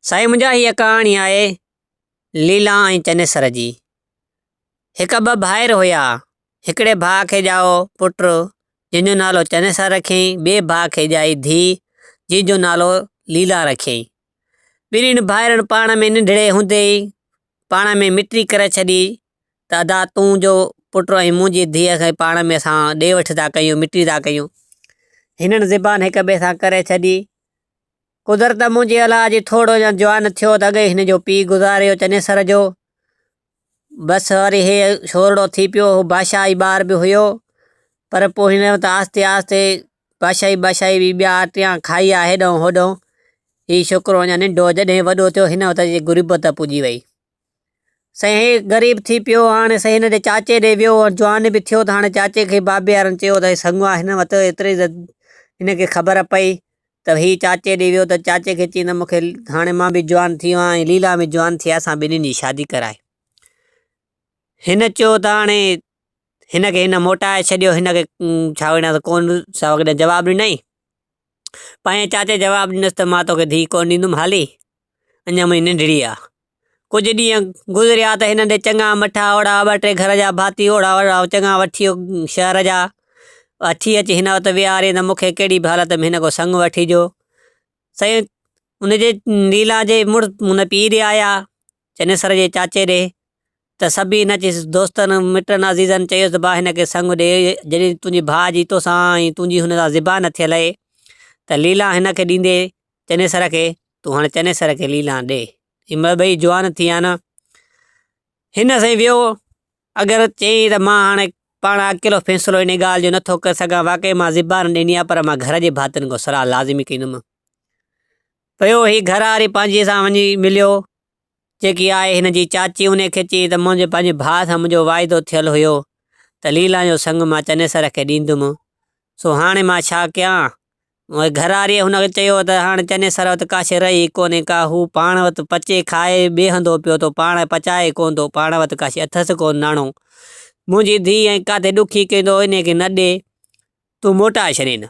سائين منهنجا هيء ڪهاڻي آهي ليلا ۽ چنيسر جي. هڪ ٻه ڀائر هيا. هڪڙي ڀاء کي ڄائو پٽ جنهن جو نالو چنيسر رکيائين ٻئي ڀاء کي ڄائي ڌيء جنهن جو نالو ليلا رکيائين. ٻنهين ڀائرن پاڻ ۾ ننڍڙي هوندي ئي پاڻ ۾ مٽي ڪري ڇڏي ته ادا تون جو پٽ ۽ منهنجي ڌيء کي پاڻ ۾ اسان ڏي وٺ ٿا ڪيون مٽي ٿا ڪيون. هنن زبان هڪ ٻئي سان ڪري ڇڏي. قدرت منهنجي الا جي ٿورڙو اڃا جوان ٿيو ته اڳئي هن جو پيء گذاريو چنيسر جو بس وري هي شورڙو ٿي پيو هو بادشاهي ٻار به هيو پر پوء هن ته آهستي آهستي بادشاهي بادشاهي بي ٻيا ٽيان کائي آ هيڏانهن هوڏانهن هي شڪرو اڃا ننڍو جڏهن وڏو ٿيو هن وقت جي غربت پڄي وئي سائين غريب ٿي پيو هاڻي سائين هن جي چاچي ڏي ويو جوان به ٿيو ته هاڻي چاچي کي بابي وارن چيو ته سڱوا هن وٽ ايتري هن کي خبر پئي ته هي چاچي ڏي ويو ته چاچي کي چيائين ته مون کي هاڻي مان به جوان ٿي ويو آهيان ليلا به جوان ٿي اسان ٻنهي جي شادي ڪرائي هن چيو ته هاڻي هن کي هن موٽائي ڇڏيو هن کي ڇا وڃان ته ڪون جواب ڏنائين پنهنجي چاچي جواب ڏنس ته مان توکي ڌيء ڪونه ڏيندم هالي، اڃا منهنجي ننڍڙي آ. ڪجهه ڏينهن گذريا ته هنن تي چڱا مٺا اوڙا ٻه ٽي گهر جا ڀاتي اوڙا وڙا چڱا وٺي شهر جا اٿي اچي هن وٽ ويهارين ته مونکي ڪهڙي به حالت ۾ هن کان سڱ وٺي ڏيو. سائين ان جي ليلا جي مڙس هن پيء ڏي آيا چنيسر جي چاچي ڏي ته سبي نه چيس، دوستن، مٽن، عزيزن چيس ته ڀاء هن کي سڱ ڏي، جڏهن تنهنجي ڀاء جي توسان ۽ تنهنجي هن سان زبان نه ٿيل اهي ته ليلان هن کي ڏيندي چنيسر کي، تون هاڻي چنيسر کي ليلان ڏي، جي مهل ٻئي جوان ٿي آن هن سائين ويو، اگر چيائين ته مان هاڻي پاڻ اڪيلو فيصلو انهي ڳالهه جو نه ٿو ڪري سگهان، واقعي مان زبان ڏني آهي پر مان گهر جي ڀاتين کان صلاح لازمي ڪندم. پيو هي گهر واري پنهنجي سان وڃي مليو جيڪي آهي هن جي چاچي انهي کي چيائين ته منهنجي پنهنجي ڀاء سان منهنجو واعدو ٿيل هيو ته ليلان جو سڱ مان چنيسر کي ڏيندم سو هاڻي مان ڇا ڪيان؟ اهي گهر واري هن کي چيو ته هاڻي چنيسر وٽ ڪاشي رهي ئي ڪونهي ڪا هو پاڻ وٽ پچي کائي بيهندو پيو ٿو پاڻ پچائي ڪونه ٿو پاڻ وٽ ڪاشي اٿس ڪونه ناڻو منهنجي ڌيء ائين ڪاٿي ڏکي ڪيندو انهي کي نه ڏي تون موٽا شرين!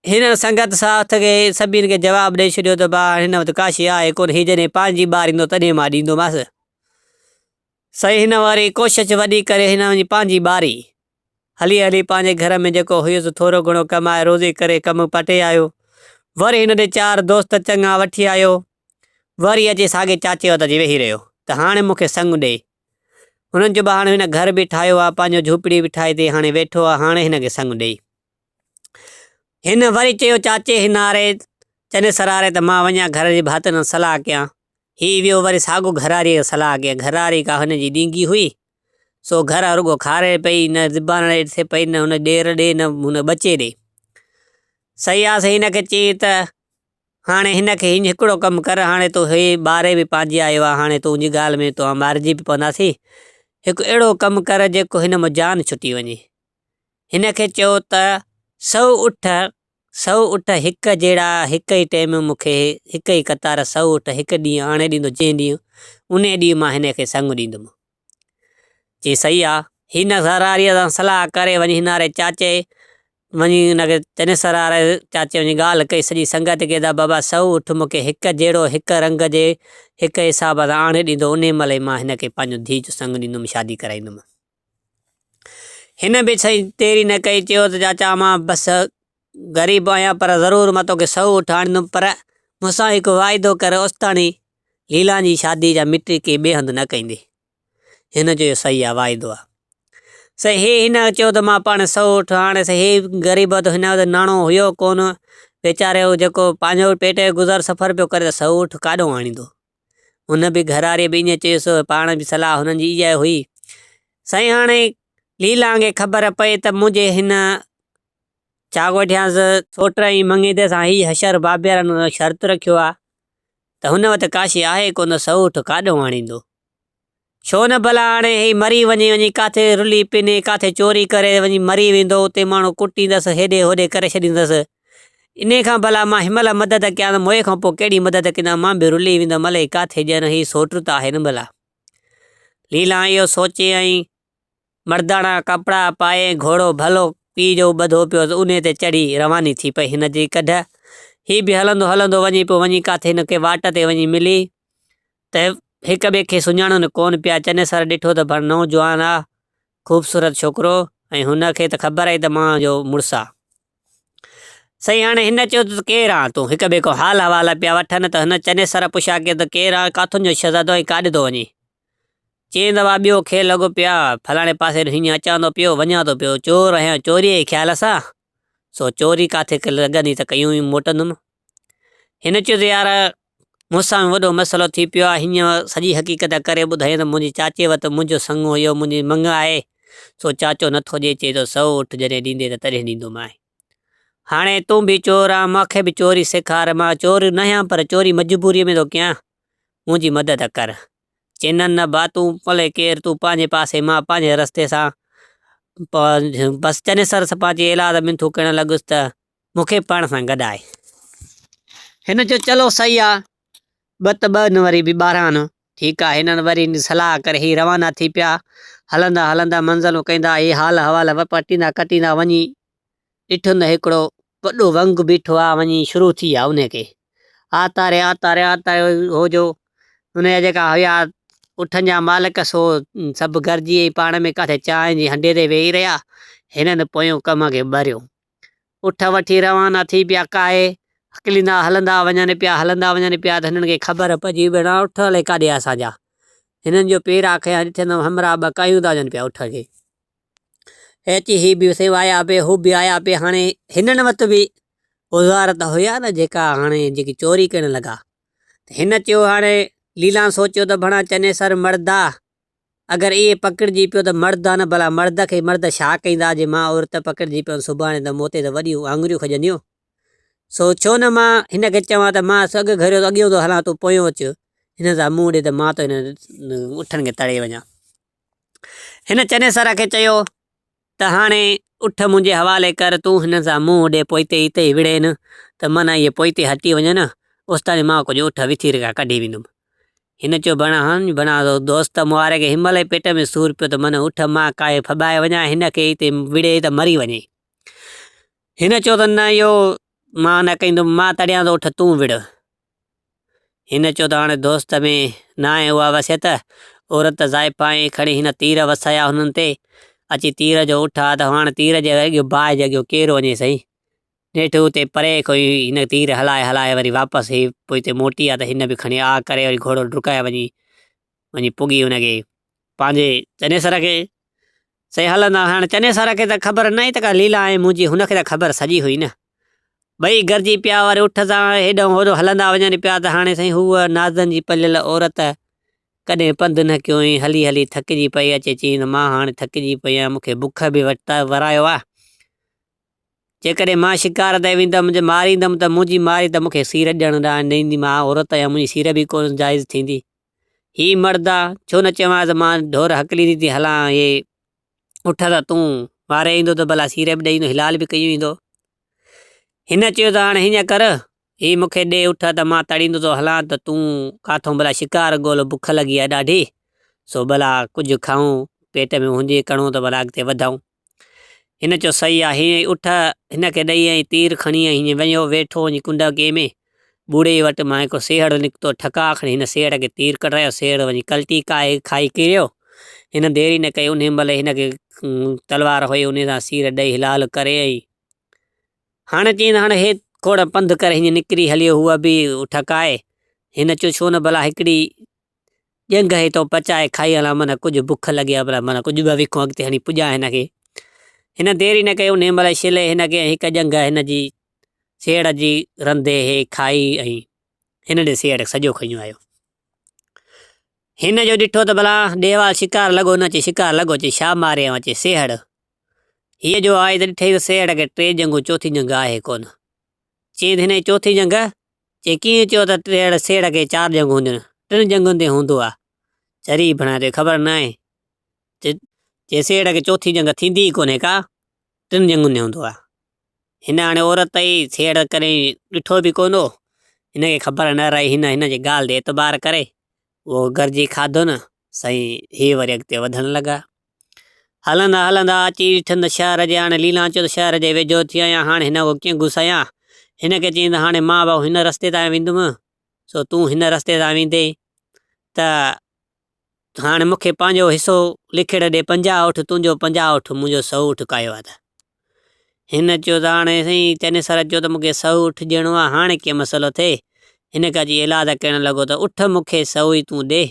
هن سنگت ساٿ کي سڀني کي جواب ڏئي ڇڏيو ته ڀاء هن وٽ ڪاشي آهي ڪونه، هي جڏهن پنهنجي ٻار ايندو تڏهن مان ڏيندومانس. سائين هن وري ڪوشش وڏي ڪري هن وڃي پنهنجي ٻاري. هلي هلي پنهنجي گهر ۾ جيڪو هيس ٿورو گهڻو ڪمائي روزي ڪري ڪم پٽي آيو. وري هن ڏي چار دوست چڱا وٺي آيو. وري اچي ساڳي چاچي وٽ اچي ويهي رهيو ته هاڻي مون کي سڱ ڏي هنن چيو هاڻي هن گهر به ٺاهيو آهي، پنهنجو جهوپڙي به ٺاهي تي هاڻي ويٺو آهي، هاڻي هن کي سڱ ڏئي. هن وري چيو چاچي هن آري چنيسر آري ته مان وڃان گهر جي ڀاتين سان صلاح ڪيان. هي ويو وري ساڳو گهراريء کي صلاح ڪيائين. گهراري ڪا هن جي ڏينگي هئي، سو گهر رڳو کاري پئي، نه زبان ڏي ٿي پئي، نه هن ڏير ڏي، نه هن ٻچي ڏي. سياس هن کي چيائين ته هاڻي هن کي هينج هڪڙو ڪم ڪر، هاڻي تون هي ٻاري به پانجي آيو آهي، هاڻي تون جي ڳالهه ۾ توهان مارجي به پونداسين، هڪ اهڙو ڪم ڪر جيڪو هن مان جان ڇٽي وڃي. هن کي چئو ته سؤ اٺ، سؤ اٺ هڪ جهڙا هڪ ئي ٽيم مون کي هڪ ئي قطار سؤ اٺ هڪ ڏينهن آڻي ڏيندو جنهن ڏينهن انهي ڏينهن مان هن کي سڱ ڏيندومانس. چي صحيح آ. هي نه سراريء سان صلاح ڪري وڃي هن واري چاچي وڃي هن کي چنيس سراري چاچي وڃي ڳالهه ڪئي سڄي سنگت کي ته بابا سهو اٺ مون کي هڪ جهڙو هڪ رنگ جي هڪ حساب سان آڻي ڏيندو انهي مهل ئي مان هن کي پنهنجو ڌيء جو سڱ ڏيندم شادي ڪرائيندم. هن به سائين ديري نه ڪئي چيو ته چاچا مان بس غريب آهيان پر ضرور مان توکي سهو اٺ آڻيندم پر مون سان هڪ واعدو ڪر اوستاڻي ليلان جي شاديء جا مٽي ڪنهن ٻئي هنڌ نه ڪئيندي. هن جو اهو صحيح آ واعدو آ. سائين هي هن چيو ته مان پاڻ سئو اٺ هاڻي سائين هي غريب هو ته هن وٽ ناڻو هيو ڪونه ويچاري هو جيڪو پنهنجو پيٽ جو گذر سفر پيو ڪري ته سئو اٺ ڪاڏئون آڻيندو. هن به گهراريء به ائين چيس هو پاڻ به صلاح هنن جي اها ئي هئي. سائين هاڻي ليلان کي خبر پئي ته منهنجي هن چاڪوٺيانس سوٽ ۽ مڱيدي سان هي حشر بابيرن شرط رکيو آ ته هن وٽ ڪا شيء آهي ڪونه سئوٺ ڪاڏهون آڻيندو؟ ڇو نه ڀلا هاڻي هي مري وڃي، وڃي ڪاٿي رلي پني، ڪاٿي چوري ڪري وڃي مري ويندو، اتي ماڻهو ڪٽيندس، هيڏي هوڏي ڪري ڇڏيندس، انهي کان ڀلا مان هن مهل مدد ڪيان، موئي کان پوء ڪهڙي مدد ڪندان، مان به رلي ويندم الئي ڪاٿي، ڄڻ هي سئوٽ ته آهي نه ڀلا. ليلان اهو سوچي ۽ مرداڻا ڪپڙا پائي گهوڙو ڀلو پيء جو ٻڌو پيو ته انهي تي چڙهي رواني ٿي پئي هن جي ڪڍ. هي به هلندو هلندو وڃي پيو وڃي ڪاٿي هن کي واٽ تي وڃي ملي ته هڪ ٻئي کي سڃاڻن ڪون پيا چنيسر ڏٺو ته ڀڻ نوجوان آ خوبصورت ڇوڪرو ۽ هن کي ته خبر آهي ته مان جو مڙس آ سائين هاڻي هن چيو ته ڪير آن تون هڪ ٻئي کان حال حوال پيا وٺن ته هن چنيسر پڇا ڪيو ته ڪير آن ڪاٿن جو شهزادو ۽ ڪاڏي ٿو وڃي چئين ته وا ٻيو کير لڳو پيا، فلاڻي پاسي ڏسين جيئن اچان ٿو پيو، وڃان ٿو پيو، چور آهيان چوريء جي خيال سان، سو چوري ڪاٿي لڳندي ته ڪيون ئي موٽندم. هن چيو ته يار مون سان به وڏو مسئلو ٿي پيو آهي، هينئن سڄي حقيقت ڪري ٻڌائين ته منهنجي چاچي وٽ منهنجو سڱو اهو منهنجي مڱ آهي، سو چاچو نٿو ڏئي، چئي ٿو سئو اٺ جڏهن ڏيندين ته تڏهن ڏيندومانء. هاڻي تون به چور آن، مان کي به چوري سيکار، مان چور ناهيان پر چوري مجبوريء ۾ ٿو ڪيان، منهنجي مدد ڪر. چينن نه با تون پلي ڪير تون پانجي پاسي مان پانجي رستي سان پنهنجو بس چني سر سپا جي ايلاز ۾ ٿو ڪرڻ لڳس ته مون کي پاڻ سان گڏ آئي. هن چيو چلو سهي آ ٻه ته ٻه نه وري به ٻارهن آن ٺيڪ آ هنن وري صلاح ڪري هي روانا ٿي پيا هلندا هلندا منزلون ڪندا هي حال حوال وپٽيندا ڪٽيندا وڃي ڏٺم ته هڪڙو وڏو ونگ بيٺو آ وڃي شروع ٿي آ انهي کي آتا ري آتا ري آتا ري هو جو انهي جا جيڪا هيا اٺن جا مالڪ سو سڀ گڏجي ۽ پاڻ ۾ ڪاٿي چانهن جي هنڊي تي ويهي رهيا هنن پويون ڪم کي ٻريو اٺ وٺي روانا ٿي پيا ڪاهي هڪليندا هلندا وڃن پيا هلندا وڃن پيا ته هنن کي خبر پئجي ڀيڻا اٺ الائي ڪاڏي آ اسان جا هنن جو پير آ کي هان ڏٺين ته همراهه ٻه ڪاهيون ٿا وڃن پيا اٺ کي. اچي هي به سيوائي آيا پي هو به آيا پي هاڻي هنن وٽ به اوزار ته هيا نه جيڪا هاڻي جيڪي چوري ڪرڻ لڳا هن چيو هاڻي ليلان سوچيو ته ڀڻا چنيسر مرد آ اگر اهي پڪڙجي پيو ته مرد آ نه ڀلا مرد کي مرد ڇا ڪيندا جي مان عورت پڪڙجي پيم سڀاڻي ته مون تي ته وڏيون آڱريون کڄنديون سو ڇو نه مان هن کي چوان ته مان سو اڳ گهريو ته اڳيون ٿو هلان تون پويون اچ هن سان منهن ڏي ته مان تو هن اٺن کي تڙي وڃان هن چنيسر کي چيو ته هاڻي اٺ منهنجي حوالي ڪر، تون هنن سان منهن اڏي پوئتي هتي ئي وڙهين ته من اهي پوئتي هٽي وڃن، اوستائين مان ڪجهه اٺ وٿير کان ڪڍي ويندم. هن چيو ڀڻا هان ڀڻا دوست مئاري کي هن مهل ئي پيٽ ۾ سور پيو ته من اٺ مان ڪاهي ڦٻائي وڃان، هن کي هتي وڙهي ته مري وڃي. هن چيو ته نه اهو مان نه ڪندم، مان تڙيان ٿو اٺ تون وڙهه. هن چيو ته هاڻي دوست ۾ ناهي اها وصيت، عورت زائفا ۽ کڻي هن تير وسايا هنن تي، اچي تير جو اٺ آ ته هاڻ تير جي اڳيو باهه جي اڳيو ڪير وڃي سائين. نيٺ اتي پري کان ئي هن تير هلائي هلائي وري واپس هي پوئتي موٽي آ ته هن به کڻي آ ڪري وري گهوڙو ڊڪائي وڃي وڃي پڳي ان کي پنهنجي چنيسر کي. سي هلندا هئا. هاڻ چنيسر کي ته خبر نه هئي ته ڪا ليلا آهي منهنجي، هن کي ته خبر سڄي هئي نه. ٻئي گڏجي پيا وري اٺ سان هيڏانهون هوڏانهون هلندا وڃن پيا ته هاڻي سائين هوء نازن جي پليل عورت ڪڏهن پنڌ نه ڪيو هئائين، هلي هلي ٿڪجي پئي اچي چيائين ته مان هاڻ ٿڪجي پئي آهيان، مون کي بک به ورايو آهي. جيڪڏهن مان شڪار تي ويندم جي ماريندم ته منهنجي ماري ته مون کي سير ڏيڻ لاء نه ايندي، مان عورت آهيان منهنجي سير به ڪونه جائز ٿيندي. هي مرد آ، ڇو نه چيوانس مان ڍور هڪليندي ٿي هلان هي اٺ ته تون واري ايندو ته ڀلا سيري به ڏئي ايندو هلال به ڪيون ايندو. هن چيو ته هاڻ هيئن ڪر هي مون کي ڏي اٺ ته مان تڙيندو ٿو هلان ته تون ڪاٿون ڀلا شڪار ڳول بک لڳي آ ڏاڍي سو ڀلا ڪجهه کائون پيٽ ۾ هجي ڪڻو ته ڀلا اڳتي وڌائون. هن چيو صحيح آهي ۽ اٺ هن کي ڏئي ۽ تير کڻي ۽ هينئن وڃيو ويٺو وڃي ڪنڊاڪي ۾. ٻوڙي وٽ مان هڪ سيهڙ نڪتو، ٺڪاء کڻي هن سيهڙ کي تير ڪڍرايو، سيهڙ وڃي ڪلٽي کائي کائي ڪريو. هن دير ئي نه ڪئي، انهيء مهل ئي هن کي تلوار هئي، انهيء سان سير ڏئي هلال ڪري ۽ هاڻ چيائين ته هاڻ هي کوڙ پنڌ ڪر، هينئن نڪري هليو هو به ٺڪائي. هن چيو ڇو نه ڀلا هڪڙي ڄنگهه هي تو پچائي کائي هلان معنيٰ ڪجهه بک لڳي ها پرا معنيٰ ڪجهه ٻه وکون اڳتي هڻي پڄان هن کي. هن دير ئي نه ڪئي انهيء مهل شلي هن کي ۽ هڪ ڄنگهه هن جي سيڙهه جي رنڌي هي کائي ۽ هن ڏي سيڙهه سڄو کنيو آيو. هن جو ڏٺو ته ڀلا ڏيهوال شڪار لڳو نه چي شڪار لڳو چي شا ماري اوهان چي سيڙهه. هيء جو آئي ته ڏٺئي ته سيڙهه کي ٽي ڄنگهون چوٿين ڄنگهه آهي ڪونه. چيائين ته هن جي چوٿين ڄنگهه جي ڪيئن چيو ته ٽيهڙ سيڙهه کي چار ڄنگهون هونديون آهن. ٽن ڄنگهن تي هوندو آهي. چري ڀڻا تون کي خبر ناهي ته جي سيڙهه کي چوٿين ڄنگهه ٿيندي ئي ڪونهي ڪا. ٽن ڄنگهن تي هوندو آهي. هن هاڻي عورت ئي سيڙهه ڪڏهن ڏٺو به ڪونه هو. هن کي خبر نه رهي هن هن جي ڳالهه تي اعتبار ڪري اهو گرجي کاڌو نه سائين هي وري اڳتي وڌڻ لڳا. هلندا هلندا اچي ٺند شهر جي هاڻي ليلانچوت شهر جي ويجهو ٿي آيا. هاڻي هن اهو ڪيئن گسايان؟ هن کي چيائين ته هاڻي مان به هن رستي تان ويندم، سو تون هن رستي تان ويندين ته هاڻي مون کي پنهنجو حصو لکيڙ ڏي، پنجاهه اٺ تنهنجو، پنجاهه اٺ منهنجو، سؤ اٺ ڪاهيو آ ته. هن چيو ته هاڻي سائين چنيسر چيو ته مون کي سؤ اٺ ڏيڻو آ، هاڻي ڪيئن مسئلو ٿئي؟ هن کي اچي ايلاز ڪرڻ لڳو ته اٺ مون کي سؤ ئي تون ڏي،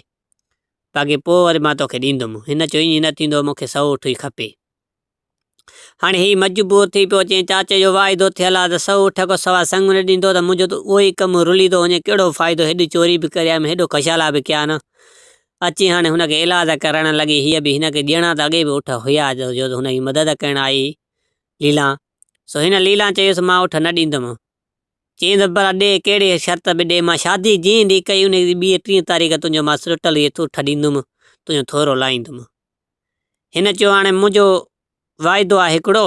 باقي پوء وري مان توکي ڏيندم. هن چيو ائين نه ٿيندو، مون کي سؤ اٺ ئي کپي. هاڻي هي مجبور ٿي پيو چئي چاچي جو واعدو ٿيل آ ته سؤ اٺ کان سواء سڱ نه ڏيندو ته منهنجو ته اهو ئي ڪم رلي ٿو وڃي ڪهڙو فائدو هيڏي چوري به ڪري آيم هيڏو ڪشالا به ڪيا نه اچي هاڻي هن کي علاج ڪرڻ لڳي هيء به هن کي ڏيڻا ته اڳي به اٺ هيا جو هن جي مدد ڪرڻ آئي ليلان سو هن ليلان چيس مان اٺ نه ڏيندم چيائين ته ڀلا ڏي ڪهڙي شرط به ڏي، مان شادي جنهن ڏينهن ڪئي انهيء جي ٻيء ٽينء تاريخ تنهنجو مان سرٽل هيء ٿوٺ ڏيندم، تنهنجو ٿورو لاهيندم. هن چيو هاڻي منهنجو واعدو آهي هڪڙو،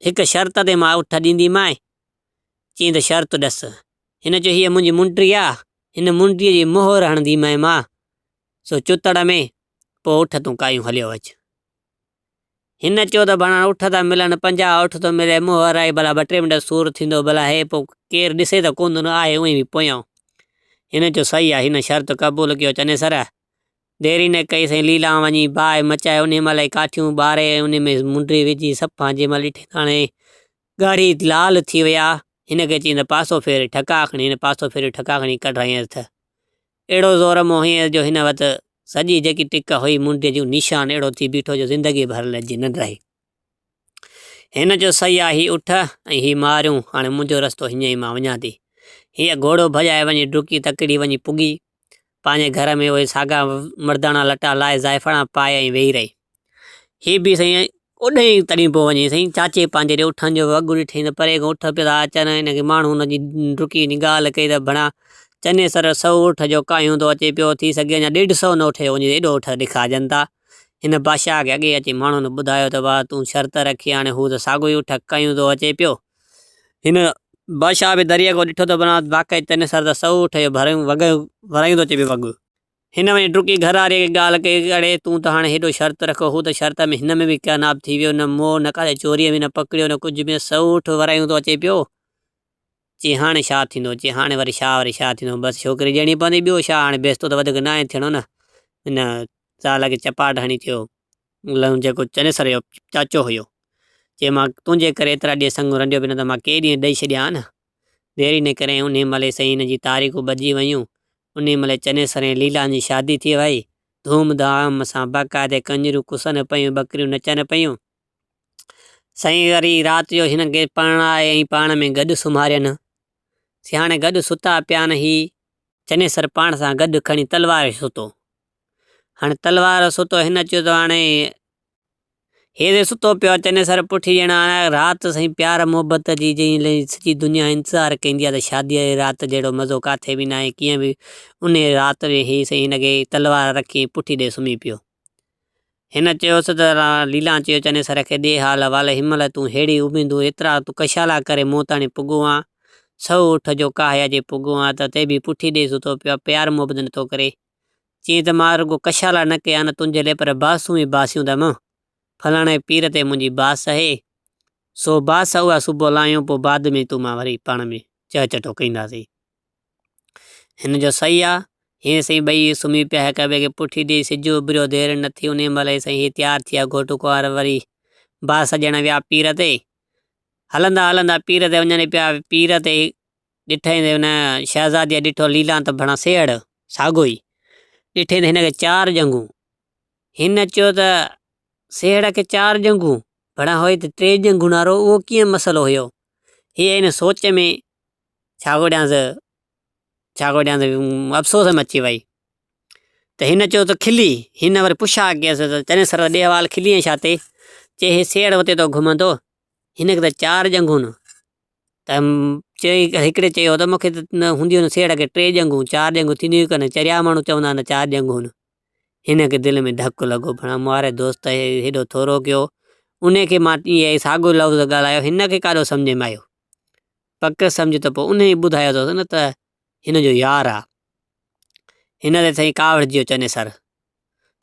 هڪ شرط تي مان اٺ ڏينديمانء. چيائين ته شرط ڏس. هن چيو هيء منهنجي منڊي آهي، هن منڊيء جي مهر هڻنديمانء مان سو چتڙ ۾، پوء اٺ تون ڪايون هليو اچ. هن چيو ته ڀاڻا اٺ ٿا ملن پنجاهه اٺ ٿو ملي منهن ورائي ڀلا ٻه ٽي منٽ سور ٿيندو ڀلا هي پوء ڪير ڏسي ته ڪوندو نه آهي اوهين به پويان هن چيو صحيح آهي هن شرط قبول ڪيو چنيسر ديري نه ڪئي سائين ليلان وڃي باهه مچائي ان مهل ئي ڪاٺيون ٻاري ۽ ان ۾ منڊي وجهي صفا جنهن مهل ڏٺي ته هاڻي ڳاڙهي لال ٿي ويا هن کي چيائين ته پاسو ڦيري ٺڪا کڻي هن پاسو ڦيري ٺڪا کڻي ڪڍرايائينس ته اهڙو زور موهين جو هن وٽ سڄي جيڪي ٽڪ هئي منڊيء جون نيشان اهڙو ٿي بيٺو جو زندگي ڀر لڄي نه رهي. هن چيو سهي آ هي اٺ ۽ هي ماريون هاڻي منهنجو رستو هينئين ئي مان وڃان ٿي. هيء گهوڙو ڀڄائي وڃي ڊڪي تڪڙي وڃي پڳي. پنهنجي گهر ۾ اهي ساڳا مڙداڻا لٽا لاهي زائفڙان پائي ۽ ويهي رهي. هي به سائين اوڏهين تڏهين پيو وڃي سائين چاچي پنهنجي ڏي اٺن جو وڳ ڏٺائين ته پري کان اٺ پيا اچن هن کي ماڻهو هن جي ڊڪي هنجي ڳالهه ڪئي ته ڀڻا چني سر سؤ اٺ جو ڪاهيون ٿو اچي پيو ٿي سگهي اڃا ڏيڍ سؤ نه اٺي وڃي ايڏو اٺ ڏکاجن ٿا. هن بادشاهه کي اڳي اچي ماڻهن ٻڌايو ته واهه تون شرط رکي هاڻي هو ته ساڳيو ئي اٺ ڪاهيون ٿو اچي پيو. هن بادشاهه به دريء کان ڏٺو ته ڀڻا واقعي چني سر ته سؤ اٺ جو ڀريون وڳ ڀرايون ٿو اچي پيو وڳ. هن وڃي ڊڪي گهراريء کي ڳالهه ڪئي، اڙي، تون ته هاڻي هيڏو شرط رکو. هو ته شرط ۾ هن ۾ به ڪياناب ٿي ويو. نه موهه، نه ڪاٿي چوريء ۾ نه پڪڙيو، نه ڪجهه ۾، سئوٺ ورايون ٿو اچي پيو. چي، هاڻي ڇا ٿيندو؟ چي، هاڻي وري ڇا، وري ڇا ٿيندو؟ بس ڇوڪري ڏيڻي پوندي، ٻيو ڇا، هاڻي بيستو ته وڌيڪ ناهي ٿيڻو نه. هن زال کي چپاٽ هڻي چيو. لئون جيڪو چنيسر جو چاچو هيو، چي، مان تنهنجي ڪري ايترا ڏينهن سڱو رنڊيو پيو نه ته مان ڪيئي ڏينهن ڏئي ڇڏيا ها نه. دير ئي نه ڪريائين، انهيء مهل ئي سائين هن جي تاريڪون ٻڌجي ويون. انهيء مهل چنيسر ۽ ليلان جي شادي ٿي ويئي. ڌوم ڌام سان باقاعدي ڪنجريون ڪسن پيون، ٻڪريون نچن پيون. سائين وري رات جو هنن کي پرڻائي ۽ پاڻ ۾ گڏ سمهارين. سي هاڻي گڏ ستا پيا آهن. هي چنيسر پاڻ سان گڏ کڻي تلوار ستو. هاڻي تلوار ستو هن چيو ته هاڻي هيري ستو پيو آهي چني سر پٺي ڄڻ هاڻي رات سائين پيار محبت جي جئين لئي سڄي دنيا انتظار ڪيندي آهي ته شادي جي رات جهڙو مزو ڪاٿي به ناهي ڪيئن به انهي رات به هي سائين هن کي تلوار رکي پٺي ڏئي سمهي پيو هن چيوس ته ليلان چيو چني سر کي ڏي حال احوال هن مهل تون ههڙي اميدون ايترا تون ڪشالا ڪري مون تاڻي پڳو آن سو اٺ جو ڪاهيا جي پڳو آن ته تي به پٺي ڏئي ستو پيو آهي پيار محبت نٿو ڪري چيائين ته مان رڳو ڪشالا نه ڪيا آهن تنهنجي لاء پر باسون به باسيون اٿم. ڦلاڻي پير تي منهنجي باس اهي، سو باس اها صبح لاهيون پوء بعد ۾ تون مان وري پاڻ ۾ چهه چٽو ڪينداسين. هن جو سهي آ. هين سائين ٻئي سمهي پيا هڪ ٻئي کي پٺي ڏيئي سج اڀريو دير نه ٿي انهي مهل ئي سائين هي تيار ٿيا گهوٽ ڪنوار وري باس ڏيڻ ويا پير تي هلندا هلندا پير تي وڃن پيا پير تي ڏٺئي ته ان شهزاديء ڏٺو ليلان ته ڀڻا سيهڙ، ساڳيو ئي، ڏٺئي ته هن کي چار ڄنگهون. هن چيو ته سيهڙ کي چار ڄنگهون، ڀڻا هوء ته ٽي ڄنگهون وارو اهو ڪيئن مسئلو هيو؟ هيء ان سوچ ۾ ڇا ڳوڏيانس، ڇا ڳوڏيانس، افسوس ۾ اچي ويئي ته هن چيو ته کلي، هن وري پڇا ڪيس ته چنيسر وڏي حوال کليئين ڇا تي؟ چي هي سيهڙ اتي ٿو گهمندو، هن کي ته چار ڄنگهون. ته هڪڙي چيو ته مون کي هونديون آهن سيهڙ کي ٽي ڄنگهون چار ڄنگهون ٿينديون ئي ڪونهن چريا ماڻهو چوندا آهن ته چار ڄنگهون آهن. هن کي دل ۾ ڌڪ لڳو ڀڻا مارئي دوست هيڏو ٿورو ڪيو ان کي مان اهو ساڳيو لفظ ڳالهايو هن کي ڪاڏو سمجهه ۾ آيو پڪ سمجهه ته پوء ان ئي ٻڌايو اٿس نه ته هن جو يار آ هن تي سائين ڪاوڙجيو چنيسر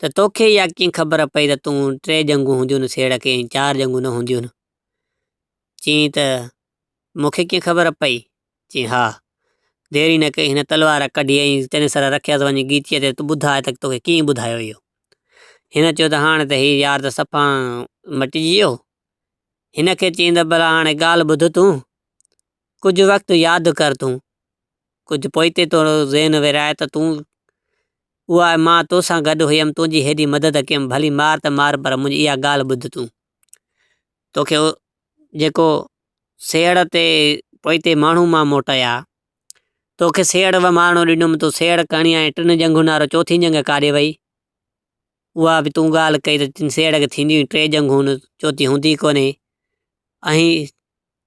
ته توکي اها ڪيئن خبر پئي ته تون ٽي ڄنگهون هونديون آهن سيهڙ کي ۽ چار ڄنگهون نه هونديون آهن. چيائين ته، مون کي ڪيئن خبر پئي؟ چيائين، ها! دير ئي نه ڪئي، هن تلوار ڪڍي ۽ تنهنجي سر رکيس، وڃ ڳيچيء تي تون ٻڌاء ته توکي ڪنهن ٻڌايو اهو؟ هن چيو ته، هاڻ ته هي يار ته صفا مٽجي ويو. هن کي چيائين ته، ڀلا هاڻي ڳالهه ٻڌ تون، ڪجهه وقت ياد ڪر تون، ڪجهه پوئتي تنهنجو ذهن وراء ته تون اها مان تو سان گڏ هيم، تنهنجي هيڏي مدد ڪيم، ڀلي مار ته مار پر منهنجي اها ڳالهه ٻڌ تون. توکي جيڪو سيهڙ تي پوئتي ماڻهو مان موٽيا، توکي سيهڙ تي ماڻهو ڏنم تون سيهڙ کڻي آئين، ٽن جنگهون نارو چوٿي جنگ ڪاڏي ويئي، اها به تون ڳالهه ڪئي ته سيهڙ کي ٿينديون ئي ٽي جنگهون نه چوٿي هوندي ئي ڪونهي، ۽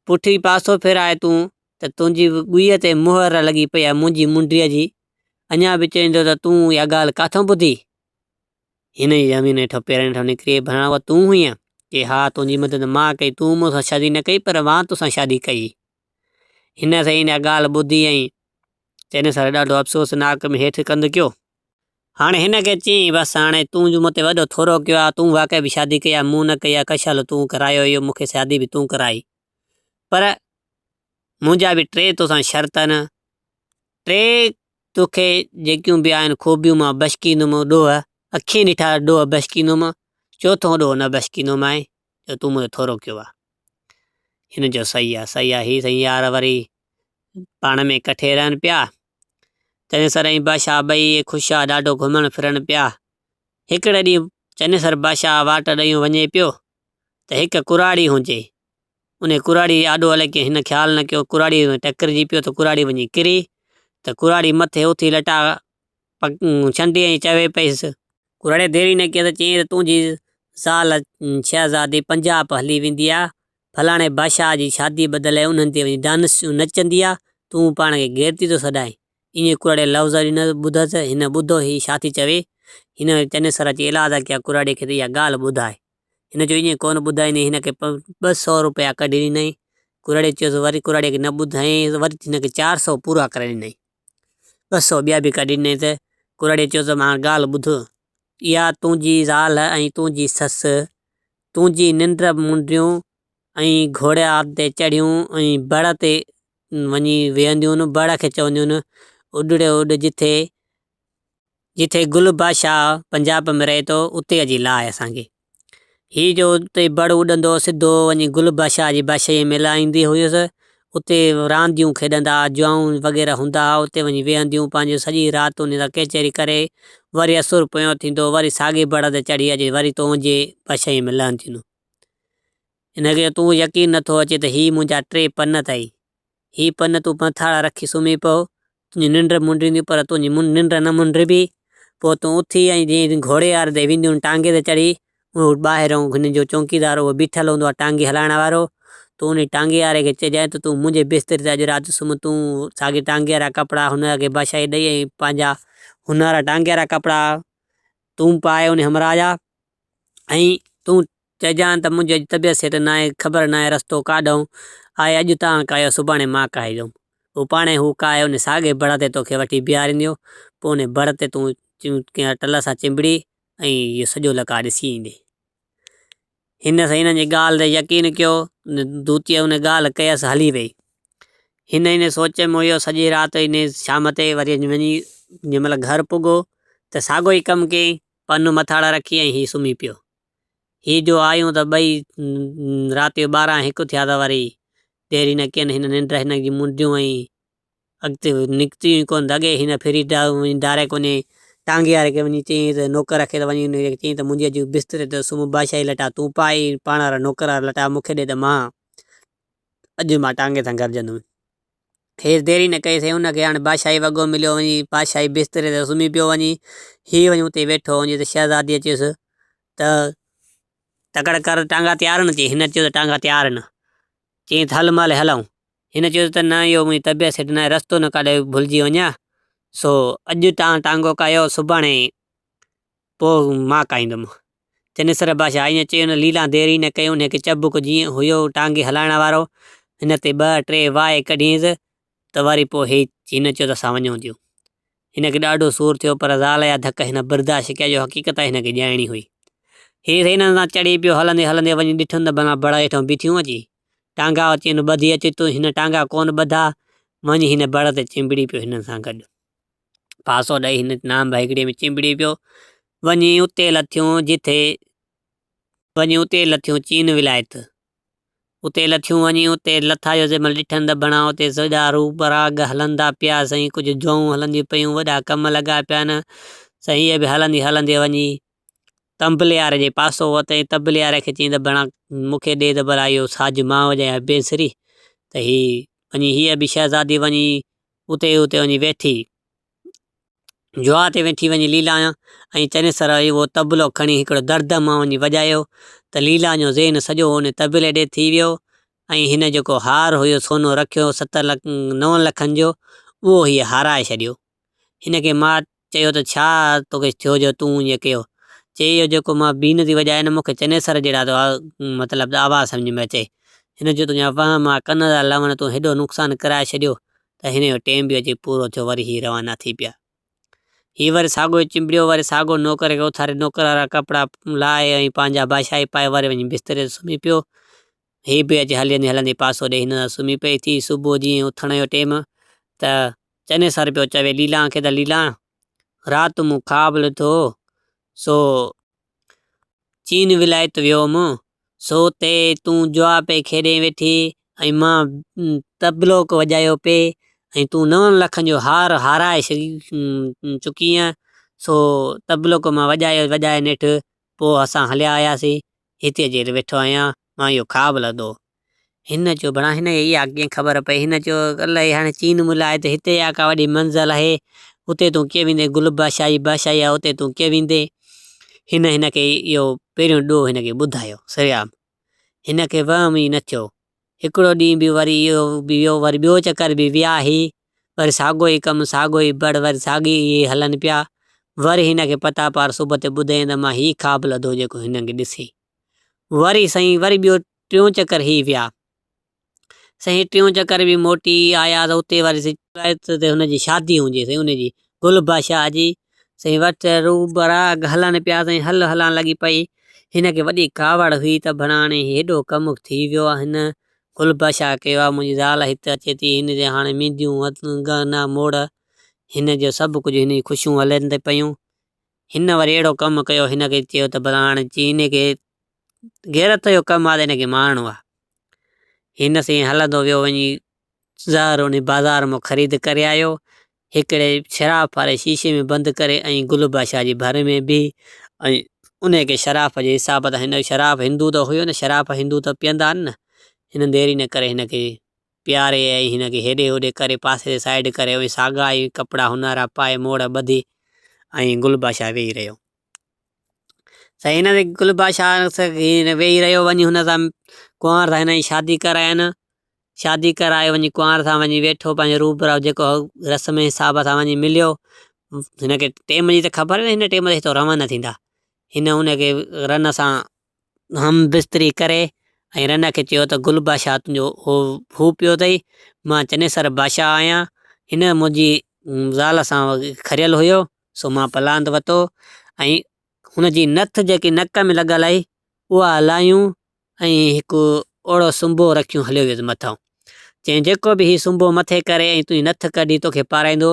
پٺي پاسو ڦيرائي تون ته تنهنجي ڳويء تي مهر لڳي پئي آهي منهنجي منڊيء جي، اڃا به چوين ٿو ته تون اها ڳالهه ڪٿان ٻڌي؟ هن جي زمين هيٺان پيرن هيٺان نڪري ڀران اها تون هئين؟ چي ها تنهنجي مدد مان ڪئي تون مون سان شادي نه ڪئي پر مان توسان شادي ڪئي. هن سائين اها ڳالهه ٻڌي ۽ چئن سال ڏاڍو افسوس ناڪ ۾ هيٺ ڪنڌ ڪيو. هاڻي هن کي چيائين بس هاڻي تون جو مون تي وڏو ٿورو ڪيو آهي تون واقعي به شادي ڪئي آهي مون نه ڪئي آهي ڪشل تون ڪرايو اهو مون کي شادي به تون ڪرائي پر منهنجا به ٽي توسان شرط آهن ٽي تو کي جيڪيون به آهن خوبيون مان بشڪيندم ڏوهه، اکين ڏٺا ڏوهه بشڪيندم، چوٿون ڏوهه نه بشڪيندومانء جو تون منهنجو ٿورو ڪيو آهه. هن چيو صحيح آهي صحيح آهي هي سائين يار وري پاڻ ۾ ڪٺي رهن پيا. چنيسر ۽ بادشاهه ٻئي خوشحال ڏاڍو گهمڻ ڦرڻ پيا. هڪڙي ڏينهن چنيسر بادشاهه واٽ ڏيون وڃي پيو ته هڪ ڪراڙي هنجي انهيء ڪراڙيء جي آڏو الائي ڪيئن هن خيال نه ڪيو، ڪراڙيء ۾ ٽڪرجي پيو ته ڪراڙي وڃي ڪري ته ڪراڙي مٿي اٿي لٽا ڇنڊي ۽ چوي پيس. ڪراڙيء دير ئي نه ڪئي ته چيائين ته تنهنجي زال شهزادي پنجاب هلي ويندي آ، فلاڻي بادشاهه جي شاديء بدلي انهن تي وڃي ڊانسون نچندي آ، تون پاڻ کي غيرتي ٿو سڏائين. ايئن ڪراڙيء لفظ ئي نه ٻڌا ته هن ٻڌو هي ڇا ٿي چوي. هن چنيسر اچي الاهدار ڪيا ڪراڙيء کي ته اها ڳالهه ٻڌائي. هن چيو ائين ڪونه ٻڌائيندين، هن کي ٻه سؤ روپيا ڪڍي ڏنائين، ڪراڙيء چيس وري ڪراڙيء کي نه ٻڌائين ته وري هن کي چار سؤ پورا ڪرائي ڏنائين، ٻه سؤ ٻيا به ڪڍي ڏنائين ته ڪراڙيء چيس ته هاڻ ڳالهه ٻڌ، اها تنهنجي زال ۽ تنهنجي سس تنهنجي ننڊ منڊيون ۽ گهوڙي آب تي چڙهيون ۽ بڙ تي وڃي ويهنديون، بڙ کي چونديون اڏڙي اڏ جتي. جتي گل بادشاهه پنجاب ۾ رهي ٿو اتي اچي لاء اسان کي. هي جو اتي بڙ اڏندو هو سڌو وڃي گل بادشاهه جي بادشاهيء ۾ لاهيندي هيس. اتي رانديون کيڏندا ها، جوئون وغيره هوندا ها، اتي وڃي ويهنديون پنهنجو سڄي رات انهي سان ڪيچيري ڪري وري اسور پيو ٿيندو وري ساڳي بڙ تي چڙهي اچي وري تنهنجي بادشاهيء ۾ لهنديون. هن کي تون يقين نٿو اچي ته هي منهنجا ٽي پن اٿئي. هي پن تون پنٿاڙا رکي سمهي پئو، تنهنجي ننڊ منڊينديون، پر تنهنجي ننڊ نه منڊبي، پوء تون اٿي ۽ جئين گهوڙي واري تي وينديون ان ٽانگي تي چڙهي، اهو ٻاهرئون هن جو چونڪيدار اهو بيٺل هوندو آهي ٽانگي هلائڻ وارو، تون انهي ٽانگي واري کي چئجانء ته تون منهنجي بستري تي اڄ رات سمهه، تون ساڳي ٽانگي وارا ڪپڙا هن کي باشائي ڏئي ۽ پنهنجا، هن وارا ٽانگي وارا ڪپڙا تون پائي انهي همراهه جا، ۽ تون چئجان ته منهنجي اڄ طبيعت سيٽ ناهي، خبر ناهي رستو ڪاڏهون آهي، اڄ تان ڪاهيو سڀاڻي مان ڪاهيندوم. هو پاڻهي هو ڪاهي ان ساڳئي بڙ تي توکي وٺي بيهارينديو، پوء ان بڙ تي تون ڪنهن ٽل سان چنبڙي ۽ اهو سڄو لقاء ڏسي ايندين. هن سائين انهن جي ڳالهه تي يقين ڪيو، ان دوتيء ان ڳالهه ڪيس هلي ويئي. هن ان سوچ ۾ هيو سڄي رات ان شام تي وري وڃي جنهن مهل گهر پڳو ته ساڳيو ئي ڪم ڪيائين، پنو مٿاڙان رکي ۽ هي سمهي پيو. هي جو آيون ته ٻئي رات جو ٻارهن هڪ ٿيا ته وري ديري نه ڪين هن ننڊ هن جي منڊيون ۽ اڳتي نڪتيون ئي ڪون ته اڳي هن ڦري ڊاريڪ وڃي ٽانگي واري کي وڃي چيائين ته نوڪر کي ته وڃي ان کي چيائين ته منهنجي اڄ بستري تي سمهه بادشاهي لٽا تون پائي پاڻ وارا نوڪر وارا لٽا مون کي ڏي ته مان اڄ مان ٽانگي سان گڏجندم. کيس دير ئي نه ڪئي سين، هن کي هاڻ بادشاهي وڳو مليو وڃي بادشاهي بستري تي سمهي پيو وڃي. هي وڃي اتي ويٺو وڃي ته شهزاديء چيس ته تڪڙ ڪر ٽانگا تيار آهن چي هن چيو ته ٽانگا تيار آهن. چيائين ته هل مالهي هلئون. هن چيس ته نه اهو منهنجي طبيعت سٺ ناهي رستو نه ڪاڏي ڀلجي وڃان سو اڄ تان ٽانگو ڪاهيو سڀاڻي پوء مان کائيندم. چنيسر بادشاهه ائين چئي ان ليلان دير ئي نه ڪئي ان کي چبڪ جيئن هيو ٽانگي هلائڻ وارو هن تي ٻه ٽي وائي ڪڍينس ته وري پوء هي هن چيو ته اسان وڃون ٿيون. هن کي ڏاڍو سور ٿيو پر زال جا ڌڪ هن برداشت ڪيا جو حقيقت هن کي ڄائڻي هئي. هي هنن سان چڙي پيو هلندي هلندي وڃي ڏٺن ته بنا بڙ هيٺئون بيٺيون اچي ٽانگا چين ٻڌي اچ تون هن ٽانگا ڪونه ٻڌا وڃي هن بڙ تي چنبڙي پيو هنن سان گڏ. پاسو ڏئي هن نام ڀائڪڙيء ۾ چنبڙي پيو. وڃي اتي لٿيون جتي وڃي اتي لٿيون چين ولايت. اتي لٿيون وڃي اتي لٿا جو جيمل ڏٺن ته بڻا اتي سڄا روح پراگ هلندا پيا سائين ڪجهه جوئون هلنديون پيون وڏا ڪم لڳا پيا نه سائين هيء به هلندي هلندي وڃي تنبليار جي پاسو وتئين تنبليار کي چين ته بڻا مون کي ڏي ته ڀلا اهو ساج مان وڄايان بينسري ته هي وڃي هيء به شهزادي وڃي اتي ئي اتي وڃي ويٺي. جوا تي ويٺي وڃي ليلان ۽ چنيسر اهو طبلو کڻي هڪڙو درد مان وڃي وڄايو ته ليلان جو ذهن سڄو ان طبلي ڏي ٿي ويو ۽ هن جيڪو هار هيو سونو رکيو ست نون لکن جو اهو هيء هارائي ڇڏيو. هن کي ماٺ چيو ته ڇا توکي ٿيو جو تون ائين ڪيو؟ چيئي اهو جيڪو مان بين ٿي وڄايان نه مون کي چنيسر جهڙا تو مطلب ته آواز سمجهه ۾ اچي. هن چيو تنهنجا وهم آ ڪن ٿا لهن تون هيڏو نقصان ڪرائي ڇڏيو ته هن جو ٽيم به اچي پورو ٿيو وري هي روانا ٿي پيا. هي وري ساڳو چنبڙيو وري ساڳو نوڪر کي اٿاري نوڪر وارا ڪپڙا لاهي ۽ پنهنجا بادشاهي پائي وري وڃي بستري تي سمهي پيو. هي به اچي هلندي هلندي پاسو ڏئي هن سان سمهي پئي ٿي صبح جيئن اٿڻ جو ٽيم ته چني سر پيو چوي ليلان کي ته ليلان رات مون خواب لڌو سو چين ولايت ويو هوم سو تي تون جوا پئي کيڏي ويٺي ۽ مان تبلوڪ وڄايو پئي ۽ تون نون لکن جو هار هارائي چڪي آن سو تبلوڪ مان وڄائي وڄائي نيٺ پوء اسان هليا آياسي هتي جيل ويٺو آهيان، مان اهو خواب لڌو. هن چيو، ڀلا هن کي اها ڪيئن خبر پئي؟ هن چيو، الائي هاڻي چين ملهه آهي ته هتي اها ڪا وڏي منزل آهي، اتي تون ڪيئن ويندين؟ گل بادشاهي بادشاهي آهي، اتي تون ڪيئن ويندين؟ هن هن کي اهو پهريون ڏوهه هن کي ٻڌايو. سريام هن کي وهم ئي نه ٿيو هڪڙو ڏينهن به وري اهو به ويو وري ٻيو چڪر به ويا هي وري ساڳو ئي ڪم ساڳو ئي بڙ وري ساڳي اهي هلن پيا وري هن کي پتا پار صبح تي ٻڌين ته مان هي خواب لڌو جيڪو هنن کي ڏسي وري سائين وري ٻيو ٽيون چڪر هي ويا سائين ٽيون چڪر به موٽي آيا ته اتي وري هن جي شادي هونجي سائين ان جي گل بادشاهه جي سائين وٽ روبرا اڳ هلن پيا سائين هل هلان لڳي پئي هن کي وڏي ڪاوڙ هئي ته ڀلا هاڻي هيڏو ڪم ٿي ويو آ هن گل بشا ڪيو آ منهنجي زال هت اچي ٿي هن جي هاڻي مينديون ڳهنا موڙ هن جو سڀ ڪجهه هن جي خوشيون هلن ته پيون هن وري اهڙو ڪم ڪيو هن کي چيو ته ڀلا هاڻي چي هن کي غيرت جو ڪم آ ته هن کي مارڻو آ هن سائين هلندو ويو وڃي زهر ان بازار مان خريد ڪري آيو هڪڙي شراب واري شيشي ۾ بند ڪري ۽ گل بادشاهه جي ڀر ۾ بيهي ۽ انهي کي شراب جي حساب تان هن شراب هندو ته هيو نه شراب هندو ته پيئندا آهن نه هن ديري نه ڪري هن کي پياري ۽ هن کي هيڏي هوڏي ڪري پاسي تي سائيڊ ڪري ۽ ساڳا ئي ڪپڙا هنارا پائي موڙ ٻڌي ۽ گل بادشاهه ويهي رهيو. سائين هن تي گل بادشاهه ويهي رهيو وڃي هن سان ڪنوار سان هن جي شادي ڪرائين. شادي ڪرائي وڃي ڪنوار سان وڃي ويٺو پنهنجو روبرو جيڪو هو رسم جي حساب سان وڃي مليو هن کي ٽيم جي ته خبر هئي هن ٽيم تي هتو روانا ٿيندا هن ان کي رن سان هم بستري ڪري ۽ رن کي چيو ته گل بادشاهه تنهنجو هو هو پيو اٿئي مان چنيسر بادشاهه آهيان هن منهنجي زال سان کريل هيو سو مان پلاند وتو ۽ هن جي نٿ جيڪي نڪ ۾ لڳل آهي اها هلايون ۽ هڪ اوڙو سنبو رکيون هليو ويس مٿان. چيائين، جيڪو به هي سنبو مٿي ڪري ۽ تنهنجي نٿ ڪڍي توکي پارائيندو،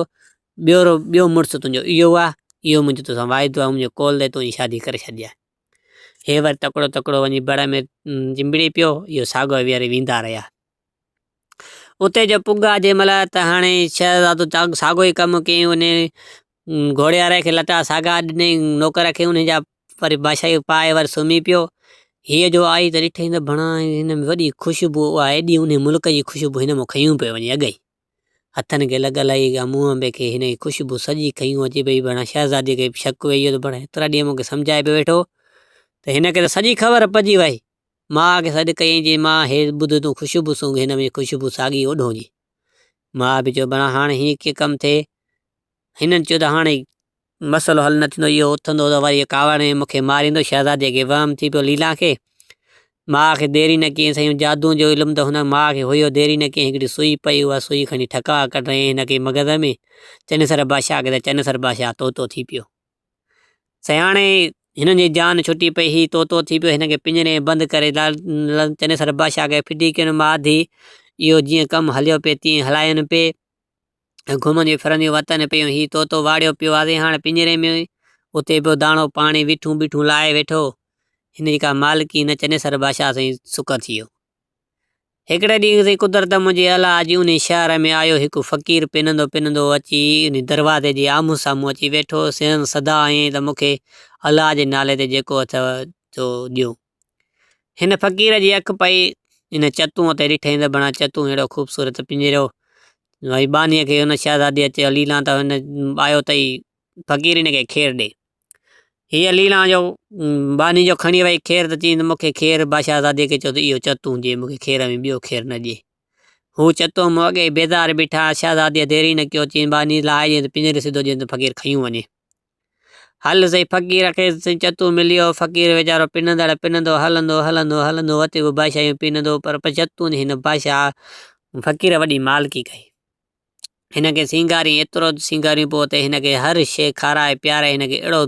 ٻيورو ٻيو مڙس تنهنجو اهو آ، اهو منهنجو توسان واعدو آ، منهنجو قول ڏي تنهنجي شادي ڪري ڇڏجي. هي وري تڪڙو تڪڙو وڃي بڙ ۾ چنبڙي پيو، اهو ساڳيو ويهاري ويندا رهيا. اتي جو پڳا جنهن مهل ته هڻي شهزادو چاڪ ساڳيو ئي ڪم ڪيائين. انهيء گهوڙيواري کي لٽا ساڳا ڏنائين. نوڪر کي انهيء جا وري بادشاهي پائي وري سمهي پيو. هيء جو آئي ته ڏٺئي ته ڀڻا هن ۾ وڏي خوشبوء آ، ايڏي انهيء ملڪ جي خوشبوء هن مان کنيون پيو وڃي اڳ ئي. هٿن کي لڳ الائي ڪا منهن ۾ ڪي هن جي خوشبوء سڄي کنيون اچي پيئي. ڀڻا شهزادي کي به شڪ ويهي ويو ته ڀڻا هيترا ڏينهن مون کي سمجهائي پيو ويٺو ته هن کي ته سڄي خبر پئجي وئي. ماء کي سڏ ڪيائين، چيائين، ماء، هي ٻڌ تون خوشبو سونگهه، هن ۾ خوشبو ساڳي اوڍون جي. ماء به چيو، بڻا هاڻ هيئن ڪيئن ڪم ٿئي؟ هنن چيو ته هاڻ مسئلو حل نه ٿيندو، اهو اٿندو ته وري ڪاوڙ ۾ مون کي ماريندو، شهزادي کي وهم ٿي پيو ليلان کي. ماء کي دير ئي نه ڪيائين، سائين جادوء جو علم ته هن ماء کي هيو، دير ئي نه ڪيائين، هڪڙي سوئي پئي، اها سوئي کڻي ٺڪاء ڪڍيائين هن کي مغز ۾، چنيسر بادشاهه کي ته چنيسر بادشاهه طوطو ٿي پيو. سياڻي هنن جي جان ڇٽي پئي هي طوطو ٿي پيو هن کي پڃري ۾ بند ڪري چني سر بادشاهه کي ڦٽي ڪين ماڌي اهو جيئن ڪم هليو پئي تيئن هلاين پئي گهمنديون ڦرنديون وتن پيون هي طوطو واڙيو پيو آزي هاڻ پڃري ۾ اتي پيو داڻو پاڻي ويٺون بيٺون لائي ويٺو هن جي ڪا مالڪي نه چني سر بادشاهه سائين سڪ ٿيو هڪڙي ڏينهن سائين قدرت منهنجي الا جي انهي شهر ۾ آيو. هڪ فقير پنندو پنندو اچي انهي دروازي جي آمهون سامهون اچي ويٺو. سندس صدا هيئن ته مون کي الا جي نالي تي جيڪو اٿئو سو ڏيو. هن فقير جي اک پئي انهي چتون تي ڏٺائين ته بڻا چتون ههڙو خوبصورت پڃريو ۽ ٻانهي کي ان شهزادي اچي ليلان ته هن آيو ته ئي فقير هن کي کير ڏي. ھيء ليلان جو ٻانھين جو کڻي ويئي کير تھ چيئين تھ مون کي کير، بادشاھزادي کي چيو تھ اھو چتو ھون جي مون کي کير ۽ ٻيو کير نھ ڏئي. ھو چتو مون اڳيئي بيزار بيٺا آھن. شھزاديء دير ئي نھ ڪيو، چيئين، ٻانھين لاھي ڏيئين تھ پڃري سڌو ڏيئين تھ فقير کيون وڃي. ھل سائين! فقير کي سائين چتو مليو، فقير ويچارو پنندڙ پنندو، ھلندو ھلندو ھلندو ھتي بھ بادشاھيون پنندو، پر چتو نھ ھن بادشاھھ فقير وڏي مالڪي ڪئي. هن کي سينگارين ايترو ته سينگارين پوء ته هن کي هر شيء کارائي پياري هن کي اهڙو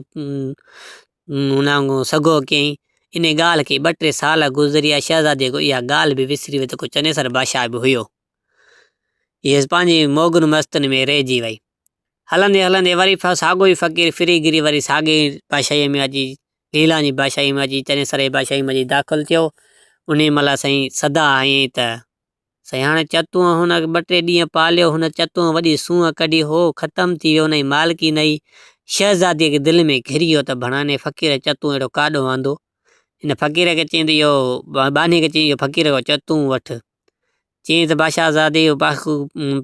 سگهو ڪيائين. انهيء ڳالهه کي ٻه ٽي سال گذريا. شهزاديء ڪو اها ڳالهه به وسري ويئي ته ڪو چنيسر بادشاهه به هيو. هيء پنهنجي موڳن مستن ۾ رهجي ويئي. هلندي هلندي وري ساڳيو ئي فقير ڦري گهري وري ساڳيء ئي بادشاهيء ۾ اچي ليلان جي بادشاهيء ۾ اچي چنيسر جي بادشاهيء ۾ اچي داخل ٿيو. انهيء مهل سائين سدا هنيئي ته. سياڻي چتونء هن کي ٻه ٽي ڏينهن پاليو. هن چتونء وڏي سونهن ڪڍي، هو ختم ٿي ويو، ان جي مالڪي نه هئي. شهزاديء کي دل ۾ گهري ويو ته ڀڻا هن فقير جو چتون اهڙو ڪاڏو آندو. هن فقير کي چيائين ته اهو ٻانهي کي چيائين اهو فقير جو چتون وٺ. چيائين ته باشاهزادي اهو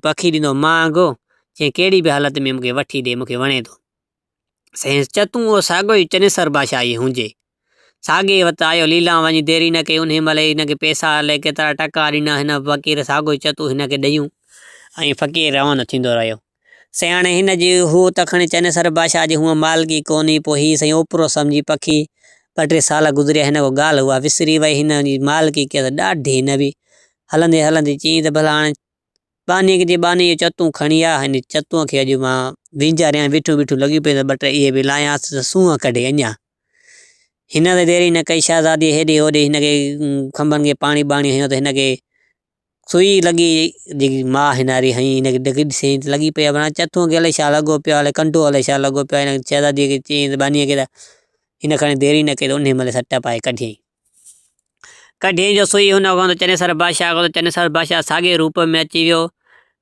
پکي ڏنو مهانگو، چيائين ڪهڙي به حالت ۾ مون کي وٺي ڏي، مون کي وڻي ٿو. سينس چتون او ساڳيو ئي چنيسر بادشاهه ئي هونجي. ساڳي وت آيو ليلان وڃي ديري نه ڪئي انهي مهل ئي هن کي پئسا الائي ڪيترا ٽڪا ڏنا هن فقير ساڳيو ئي چتون هن کي ڏيون ۽ فقير روانو ٿيندو رهيو. سياڻي هن جي هو ته کڻي چنيسر بادشاهه جي هونء مالڪي ڪونهي پوء هي سائين اوپرو سمجهي پکي ٻه ٽي سال گذريا هن ڪو ڳالهه اها وسري وئي هن جي مالڪي ڪيس ڏاڍي نوي هلندي هلندي چيائين ته ڀلا هاڻي ٻانهينڪ جي ٻانهي اهي چتون کڻي آيا ۽ چتون کي اڄ مان وينجهاريان، بيٺو بيٺو لڳيون پيون ته ٻه ٽي اهي به لايانس ته سونهن ڪڍي اڃا. هن ته دير ئي نه ڪئي، شهزاديء هيڏي هوڏي هن کي کنڀن کي پاڻي ٻاڻي هنيو ته هن کي سوئي لڳي، جيڪي ماء هنئاري هنئي، هن کي ڊگهي ڏسيائين ته لڳي پئي آهي ڀران چتون کي الائي ڇا لڳو پيو آهي، الائي ڪنڊو الائي ڇا لڳو پيو آهي، هن شهزاديء کي چيائين ته ٻانهينڪ کي ته هن کڻي دير ئي نه ڪئي ته انهيء مهل سٽ پائي ڪڍيائين. ڪڍين جو سوئي هن اگهانڌو چنيسر بادشاهه اگهانڌو چنيسر بادشاهه ساڳئي روپ ۾ اچي ويو.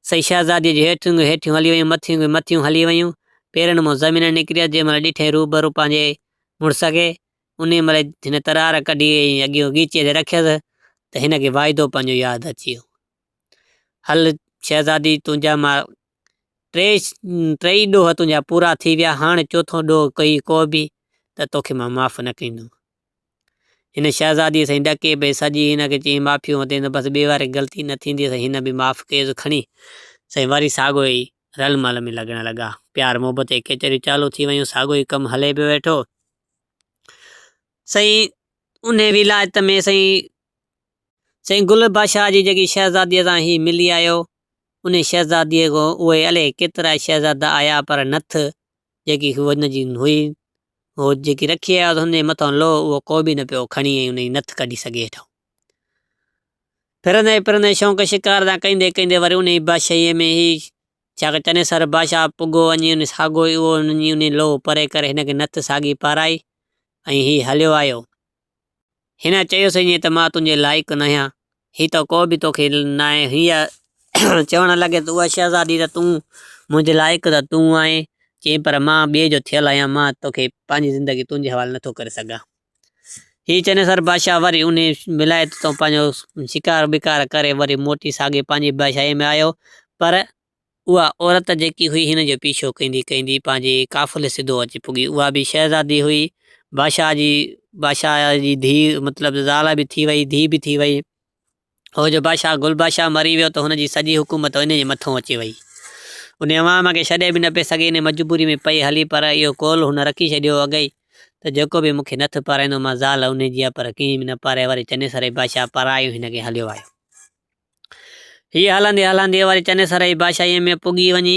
سئي شهزاديء جون هيٺيون ڳيون هيٺيون هلي ويون، مٿيون ڳيون مٿيون هلي ويون، پيرن مان زمين نڪريس، جنهن مهل ڏٺائين روبرو پنهنجي مڙس کي، انهيء مهل هن ترار ڪڍي ۽ اڳيون ڳيچيء تي رکيس ته هن کي واعدو پنهنجو ياد اچي ويو. هل شهزادي تنهنجا مان ٽي ٽيئي ڏوهه تنهنجا پورا ٿي ويا، هاڻ چوٿون ڏوهه ڪوئي ڪو به ته توکي مان معاف نه ڪندم. هن شهزاديء سائين ڏڪي پئي سڄي هن کي چيائين معافيون وتين ته بس ٻي واري غلطي نه ٿيندي سائين هن به معاف ڪيس کڻي سائين وري ساڳيو ئي رل مل ۾ لڳڻ لڳا پيار محبت جي ڪچهريون چالو ٿي ويون ساڳيو ئي ڪم هلي پيو ويٺو سائين انهي ولايت ۾ سائين سائين گل بادشاهه جي جيڪي شهزاديء سان هي ملي آيو انهي شهزاديء کان اهي الي ڪيترا شهزادا آيا پر نٿ جيڪي هن جي هئي، هو جيڪي رکي آيو هن جي مٿان لوهه، اهو ڪو به نه پيو کڻي ۽ ان جي نٿ ڪڍي سگهي هيٺان. ڦرندي ڦرندي شونق شڪار تان ڪيندي ڪيندي وري ان جي بادشاهيء ۾ هي ڇا ڪيو، چني سر بادشاهه پڳو وڃي ان ساڳو ئي اهو هن جي ان جي لوهه پري ڪري هن کي نٿ ساڳي پارائي ۽ هي هليو آيو. هن چيس ائين ته مان تنهنجي لائق ناهيان، هي ته ڪو به توکي ناهي. هيء چوڻ لڳي ته اها شهزادي ته تون منهنجي لائق ته تون آهين. چيائين پر مان ٻئي جو ٿيل آهيان، مان توکي پنهنجي زندگي تنهنجي حوالي نٿو ڪري سگهان. هيء چينس هر بادشاهه وري انهيء ولايت تان پنهنجو شڪار بڪار ڪري وري موٽي ساڳي پنهنجي بادشاهيء ۾ آيو پر اها عورت جيڪي هئي هن جو پيڇو ڪندي ڪندي پنهنجي قافلي سڌو اچي پڳي. اها به شهزادي هئي. بادشاهه جي بادشاهه جي ڌيء مطلب زال به ٿي وئي ڌيء به ٿي وئي. هو جو بادشاهه گل بادشاهه مري ويو ته هن جي سڄي حڪومت انهي جي مٿون اچي وئي. انهي عوام کي ڇڏي به نه پئي سگهي انهي مجبوري ۾ پئي هلي پر اهو قول هن رکي ڇڏيو اڳئي ته جيڪو به مون کي نٿ پارائيندو مان زال انهي جي آ پر ڪنهن به نه پاري وري چنيسر بادشاهه پارايو هن کي هليو آيو. هيء هلندي هلندي وري چنيسر جي بادشاهيء ۾ پڳي وڃي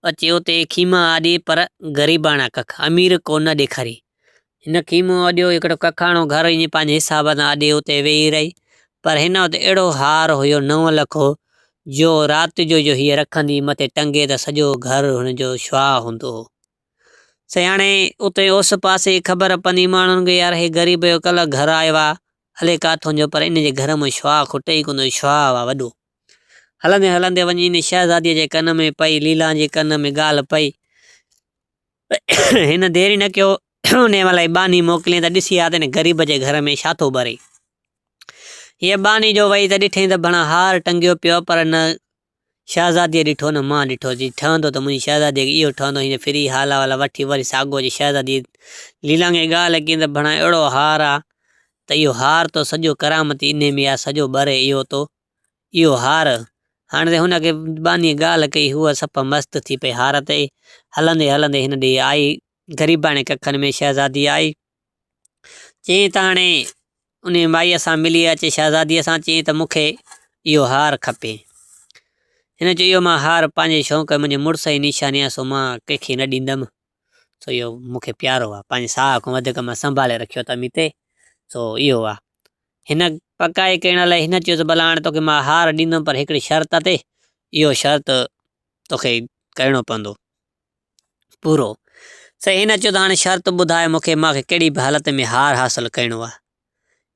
اچي اتي خيمه آڏي پر غريباڻا ڪک، امير ڪو نه ڏيکاري. هن خيمو آڏيو، هڪڙو ڪکاڻو گهر ائين پنهنجي حساب سان آڏي اتي ويهي رهي، پر هن وٽ اهڙو هار هيو نو لکو، جو رات جو جو هيء رکندي مٿي ٽنگي ته سڄو گهر هن جو شعاع هوندو هو. سياڻي اتي اوس پاسي خبر پندي ماڻهن کي يار هي غريب جو ڪلهه گهر آيو آ، الي ڪاٿون جو پر ان جي گهر مان شعاع کٽي ئي ڪونه ٿو، شعاع هئا وڏو. هلندي هلندي وڃي ان شهزاديء جي ڪن ۾ پئي، ليلان جي ڪن ۾ ڳالهه پئي. هن دير ئي نه ڪيو، انهيء مهل ئي ٻانهي موڪليائين ته ڏسي آ ته ان غريب جي گهر ۾ ڇا ٿو ٻري. هيء ٻانهي جو وئي ته ڏٺائين ته ڀڻا هار ٽنگيو پيو آ پر نه شهزاديء ڏٺو نه مان ڏٺو، جي ٺهندو ته منهنجي شهزاديء کي اهو ٺهندو، هن ڦري هالا والا وٺي وري ساڳو جي شهزاديء ليلانگي ڳالهه ڪيندر ڀڻا اهڙو هار آ ته اهو هار تو سڄو ڪرامتي انهي ۾ آ سڄو ٻري اهو تو اهو هار هاڻ تي هن کي ٻانهيء ڳالهه ڪئي هوء سپهه مست ٿي پئي هار تي هلندي هلندي هن ڏي آئي غريباڻي ڪکن ۾ شهزادي آئي چيائين ته هاڻي انهيء مائيء سان ملي اچي شهزاديء سان چيائين ته مون کي اهو هار کپي. هن چيو اهو مان هار پنهنجي شوق ۽ منهنجي مڙس جي نشاني آهي سو مان ڪنهن کي نه ڏيندم سو اهو مون کي پيارو آهي پنهنجي ساهه کان وڌيڪ مان سنڀالي رکيو اٿم هي تي سو اهو آهي. هن پڪائي ڪرڻ لاء هن چيو ته ڀلا هاڻي توکي مان هار ڏيندم پر هڪڙي شرط تي اهو شرط توکي ڪرڻو پوندو. پورو. هن چيو ته هاڻي شرط ٻڌاء مون کي، مان کي ڪهڙي به حالت ۾ هار حاصل ڪرڻو آهي.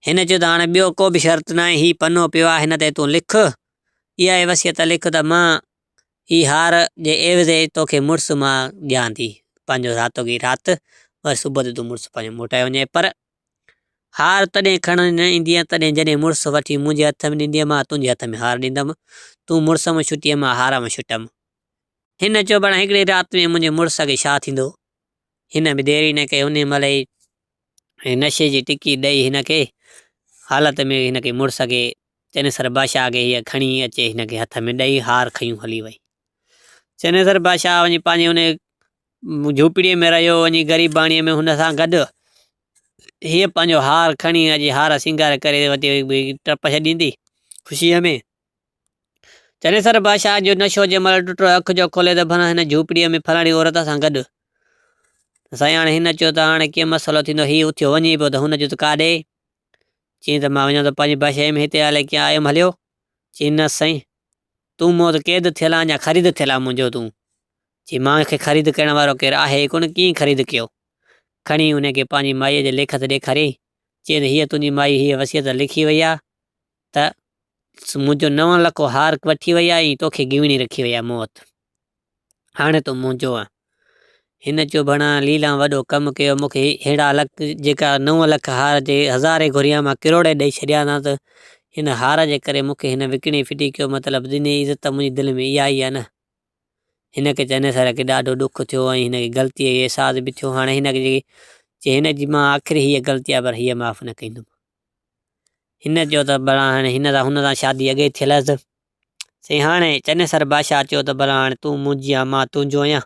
هن چيو ته هاڻي ٻيو ڪو به شرط ناهي، هي پنو پيو آهي هن تي تون لک، اها ئي وصيت لک ته مان هي هار جي عيوض تو کي مڙس مان ڏيان ٿي، پنهنجو رات گي رات، وري صبح تي تون مڙس پنهنجو موٽائي وڃ، پر هار تڏهن کڻڻ نه ايندينء تڏهن جڏهن مڙس وٺي منهنجي هٿ ۾ ڏيندينء، مان تنهنجي هٿ ۾ هار ڏيندم، تون مڙس مان ڇٽينء مان هار مان ڇٽم. هن چيو ڀلا هڪڙي رات ۾ منهنجي مڙس کي ڇا ٿيندو؟ هن به ديري نه ڪئي انهي مهل ئي نشي جي ٽڪي ڏئي هن کي حالت ۾ هن کي مڙس کي چنيسر بادشاهه کي هيء کڻي اچي هن کي هٿ ۾ ڏئي هار کنيون هلي وئي. چنيسر بادشاهه وڃي پنهنجي انهي جهوپڙي ۾ رهيو وڃي غريباڻي ۾ هن سان گڏ هيء پنهنجو هار کڻي هن جي هار سينگار ڪري ٽپ ڇڏيندي خوشيء ۾. چنيسر بادشاهه جو نشو جنهن مهل ٽٽو، اک جو کولي ته ڀلا هن جهوپڙيء ۾ فلاڻي عورت سان گڏ. سائين هاڻي هن چيو ته هاڻي ڪيئن مسئلو ٿيندو، هي اٿيو وڃي پيو ته هن چيو ته ڪاڏي؟ چيائين ته مان وڃان ٿو پنهنجي بادشاهيء ۾ هتي هالي ڪيئن آيم هليو؟ چيائين نه سائين تون مون وٽ قيد ٿيل آن يا خريد ٿيل آن منهنجو تون؟ چيائين مان کي خريد ڪرڻ وارو ڪير آهي ئي ڪونه ڪيئن خريد ڪيو؟ کڻي ان کي پنهنجي مائيء جي ليکت ڏيکاريائين، چيائين ته هيء تنهنجي مائي هيء وصيت لکي وئي آهي، ته منهنجو نو لکو هارڪ وٺي وئي آهي ۽ توکي گيوڻي رکي وئي آهي موت. هاڻي تون منهنجو آهين. هن چيو ڀڻا ليلان وڏو ڪم ڪيو مون کي ههڙا لک جيڪا نو لک هار جي هزارين گهريان مان ڪروڙين ڏئي ڇڏيا ها ته هن هار جي ڪري مون کي هن وڪڻي ڦٽي ڪيو مطلب ڏني عزت ته منهنجي دل ۾ اها ئي آهي نه. هن کي چئني سر کي ڏاڍو ڏک ٿيو ۽ هن کي غلطي جو احساس به ٿيو هاڻي هن کي چي هن جي مان آخري هيء غلطي آهي پر هيء معاف نه ڪندم. هن چيو ته ڀلا هاڻي هن سان هن سان شادي اڳي ئي ٿيل هئس. سي هاڻي چنيسر بادشاهه چيو ته ڀلا هاڻي تون منهنجي آهين مان تنهنجو آهيان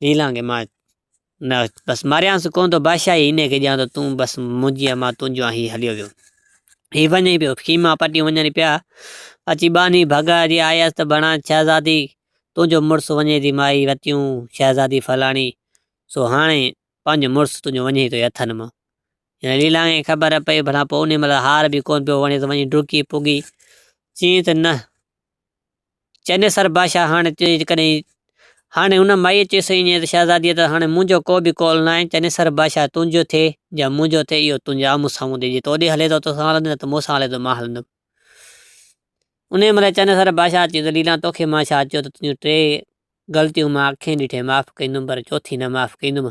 نيلان کي مان نه بس ماريانس ڪونه ٿو بادشاهي هن کي ڏيان ٿو تون بس منهنجي آهين مان تنهنجو آهيان هي هليو ويو هي وڃي پيو خيما پٽيون وڃن پيا اچي ٻانهي ڀڳا جي آيس ته ڀلا شهزادي تنهنجو مڙس وڃي ٿي مائي وتيون شهزادي فلاڻي سو هاڻي پنهنجو مڙس تنهنجو وڃي ٿو اٿن مان هن ليلا کي خبر پئي ڀلا پوء انهيء مهل هار به ڪونه پيو وڻيس، وڃي ڊڪي پڳي چيائين ته نه چنيسر بادشاهه هاڻي جيڪڏهن هاڻي ان مائيء چيس ايئن ته شهزاديء ته هاڻي منهنجو ڪو به قول ناهي، چنيسر بادشاهه تنهنجو ٿئي يا منهنجو ٿئي اهو تنهنجي آمهون سامهون ٿئي، جي توڏي هلي ٿو توسان هلندس نه ته مون سان هلي ٿو مان هلندس. انهيء مهل چنيسر بادشاهه چيو ته ليلا توکي مان ڇا چيو ته تنهنجون ٽي غلطيون مان اکين ڏٺي معاف ڪندم پر چوٿين نه معاف ڪندم.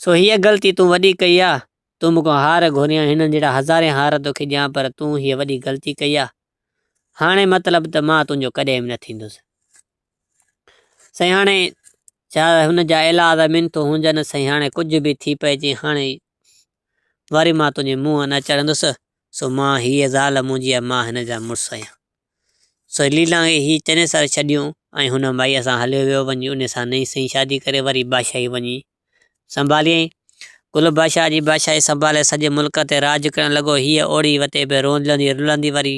سو هيء غلطي تون وڏي ڪئي آ، تون مون کان هار گهريان، هنن جهڙا هزارين هار تو کي ڏيان پر تون هيء وڏي غلطي ڪئي آ، هاڻي مطلب ته مان تنهنجو ڪڏهن به نه ٿيندس. سائين هاڻي جا هن جا الاذ منٿون هونجن، سائين هاڻي ڪجهه به ٿي پئجي، هاڻي وري مان تنهنجي منهن نه چڙهندس، سو مان هيء زال منهنجي آ، مان هن جا مڙس آهيان. سھيلي لانگھي ھي چني سر ڇڏيون ۽ ھن مائيء سان ھليو ويو وڃي انھيء سان نئين سئين شادي ڪري وري بادشاھي وڃي سنڀاليائين. گل بادشاھه جي بادشاھي سنڀالي سڄي ملڪ تي راڄ ڪرڻ لڳو. ھيء اوڙي وتي به روندلندي رلندي وري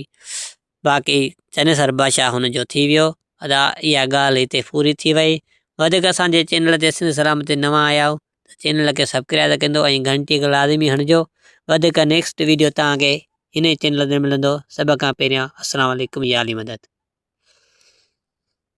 باقي چني سر بادشاھه ھن جو ٿي ويو. ادا اھا ڳالھه ھتي پوري ٿي وئي. وڌيڪ اسان جي چينل تي سنڌ سلامت تي نوان آيا آھيو. ته چينل کي سبڪرائيب ڪندو ۽ گهنٽي کي لازمي هڻجو وڌيڪ نيڪسٽ ويڊيو توهان کي هن ئي چينل تي ملندو سڀ کان پهريان السلام عليڪم يا علي مدد.